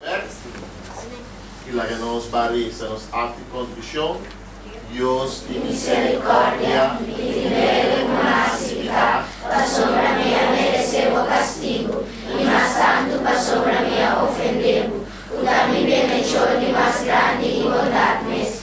Merci. Y laga nos ba reza nos acti confesion, Dios di misericordia y di mede cu naci picá, pasobra mi a merece bo castigo, y mas tanto pasobra mi a ofende bo, cu ta mi bienhechor di mas grandi y bondad mes,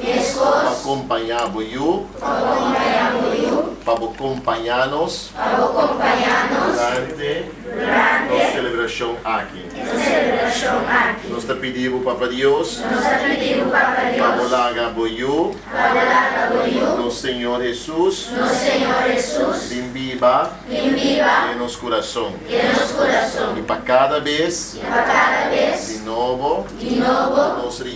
pa kompañá bo yu, pa bo kompañá nos durante nos selebrashon aki. Nos ta pidi bo, Papa Dios, pa bo laga bo yu, nos Señor Hesus, bin biba den nos kurason, i pa kada bes di nobo nos.